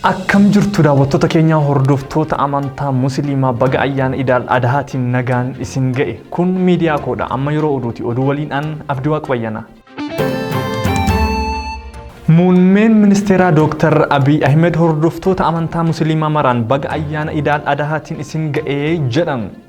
Akkam jirtu daawwattoota keenyaa hordoftoota amantaa musliimaa baga ayyaana idaal adahaatiin nagaan isin ga'e kun miidiyaa koodha amma yeroo oduuti oduu waliin an abdii waaqayyanaa. Muummeen ministeeraa Dooktar Abiy Ahmed hordoftoota amantaa musliimaa maraan baga ayyaana idaal adahaatiin isin ga'e jedhan.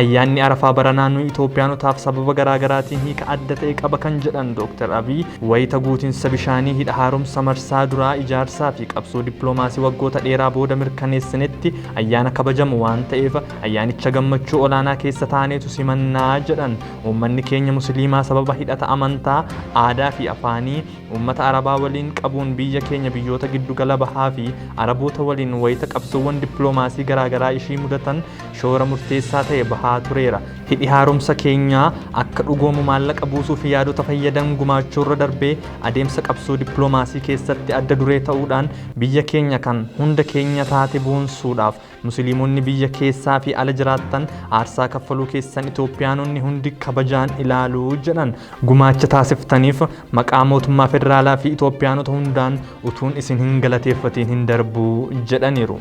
Ayyaanni Arafaa baranaa nu Itoophiyaanotaaf sababa garaa garaatiin hiika adda ta'e qaba kan jedhan Dooktar Abiy, wayita guutinsa bishaanii Hidha Haaromsa marsaa duraa ijaarsaa fi qabsoo dippiloomaasii waggoota dheeraa booda mirkaneessinetti ayyaana kabajamu waan ta'eef ayyaanicha gammachuu olaanaa keessa taaneetu simanna jedhan. Uummanni keenya Musiliimaa sababa hidhata amantaa, aadaa fi afaanii uummata Arabaa waliin qabuun biyya keenya biyyoota Giddu Gala Bahaa fi Araboota waliin wayita qabsoowwan dippiloomaasii garaa garaa ishii mudatan shoora murteessaa ta'e bahaa tureera. Hidhi haaromsa keenyaa akka dhugoomu maallaqa buusuu fi yaadota fayyadan gumaachuurra darbee adeemsa qabsoo dippiloomaasii keessatti adda duree ta'uudhaan biyya keenya kan hunda keenya taate boonsuudhaaf Musiliimonni biyya keessaa fi ala jiraattan aarsaa kaffaluu keessan Itoophiyaanonni hundi kabajaan ilaalu jedhan. Gumaacha taasiftaniif maqaa mootummaa federaalaa fi Itoophiyaanota hundaan utuun isin hin galateeffatiin hin darbu jedhaniiru.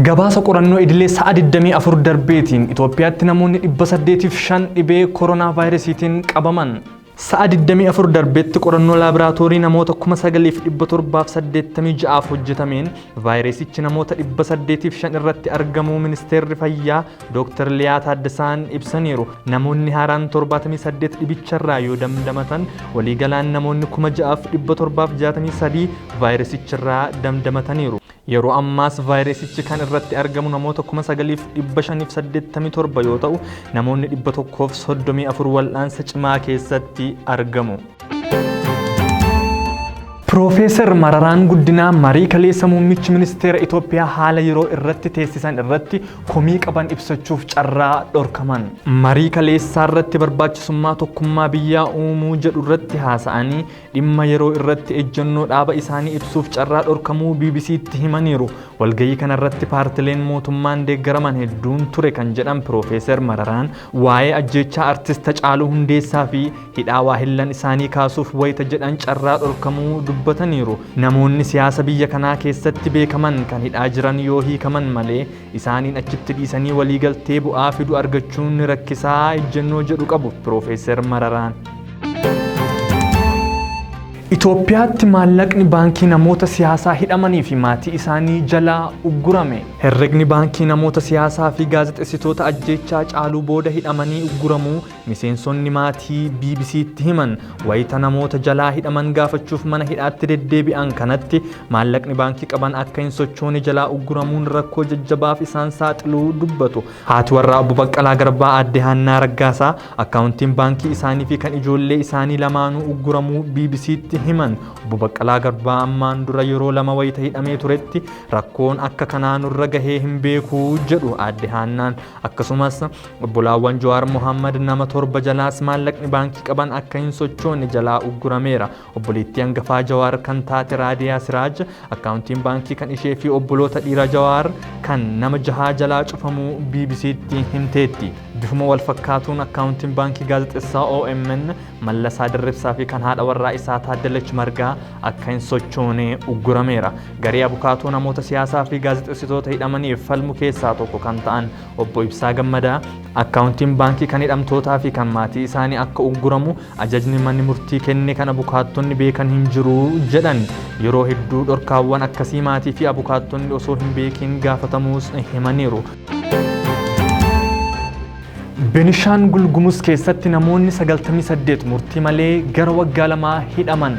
Gabaasa qorannoo idilee sa'a 24 darbeetiin Itoophiyaatti namoonni 805 dhibee koronaa vaayirasiitiin qabaman. Sa'a 24 darbeetti qorannoo laaboraatoorii namoota 9,786f hojjetameen vaayirasichi namoota 805 irratti argamuu ministeerri fayyaa Dooktar Liyaa Taaddasaan ibsaniiru. Namoonni haaraan 78 dhibicharraa yoo damdamatan waliigalaan namoonni 6,763 vaayirasicharraa damdamataniiru. Yeroo ammaas vaayirasichi kan irratti argamu namoota 9,587 yoo ta'u namoonni 134 wal'aansa cimaa keessatti argamu. Piroofeesar Mararaan Guddinaa marii kaleessa muummichi ministeera Itoophiyaa haala yeroo irratti teessisan irratti komii qaban ibsachuuf carraa dhorkaman. Marii kaleessaa irratti barbaachisummaa tokkummaa biyyaa uumuu jedhu irratti haasa'anii dhimma yeroo irratti ejjennoo dhaaba isaanii ibsuuf carraa dhorkamuu BBC'tti himaniiru. Walgahii kana irratti paartileen mootummaan deeggaraman hedduun ture kan jedhan Piroofeesar Mararaan waa'ee ajjeechaa artist Hacaaluu Hundeessaa fi Hidhaa waahillan isaanii kaasuuf wayita jedhan carraa dhorkamuu dubbataniiru. Namoonni siyaasa biyya kanaa keessatti beekaman kan hidhaa jiran yoo hiikaman malee isaaniin achitti dhiisanii waliigaltee bu'aa fidu argachuun ni rakkisaa ejjennoo jedhu qabu Piroofeeser Mararaan. Itoophiyaatti maallaqni baankii namoota siyaasaa hidhamanii fi maatii isaanii jalaa uggurame. Herregni baankii namoota siyaasaa fi gaazexessitoota ajjeechaa caaluu booda hidhamanii ugguramuu Miseensonni maatii BBC'tti himan wayita namoota jalaa hidhaman gaafachuuf mana hidhaatti deddeebi'an kanatti maallaqni baankii qaban akka hin sochoone jalaa ugguramuun rakkoo jajjabaaf isaan saaxiluu dubbatu. Haati warraa Obbo Baqqalaa Garbaa Aadde Haannaa Raggaasaa akkaawuntiin baankii isaanii fi kan ijoollee isaanii lamaanuu ugguramuu BBC'tti himan. Obbo Baqqalaa Garbaa ammaan dura yeroo lama wayita hidhamee turetti rakkoon akka kanaa nurra gahee hin beeku jedhu Aadde Haannaan. Akkasumas Obbolaawwan Jawaar Mohaammad nama torba jalaas maallaqni baankii qaban akka hin sochoone jalaa uggurameera. Obboleettii hangafaa Jawaar kan taate Raadiyaa Siraaj akkaawuntiin baankii kan ishee fi obboloota dhiira Jawaar kan nama jahaa jalaa cufamuu BBC'tti himteetti. Bifuma wal fakkaatuun akkaawuntiin baankii gaazexessaa OMN Mallasaa Dirribsaa fi kan haadha warraa isaa Taaddalach Margaa akka hin sochoone uggurameera. Garee abukaatoo namoota siyaasaa fi gaazexessitoota hidhamaniif falmu keessaa tokko kan ta'an Obbo Ibsaa Gammadaa, Akkaawuntiin baankii kan hidhamtootaa fi kan maatii isaanii akka ugguramu ajajni manni murtii kenne kan abukaattonni beekan hin jiru jedhan. Yeroo hedduu dhorkaawwan akkasii maatii fi abukaattonni osoo hin beekiin gaafatamuus himaniiru. Benishaangul Gumuz keessatti namoonni 98 murtii malee gara waggaa lamaa hidhaman.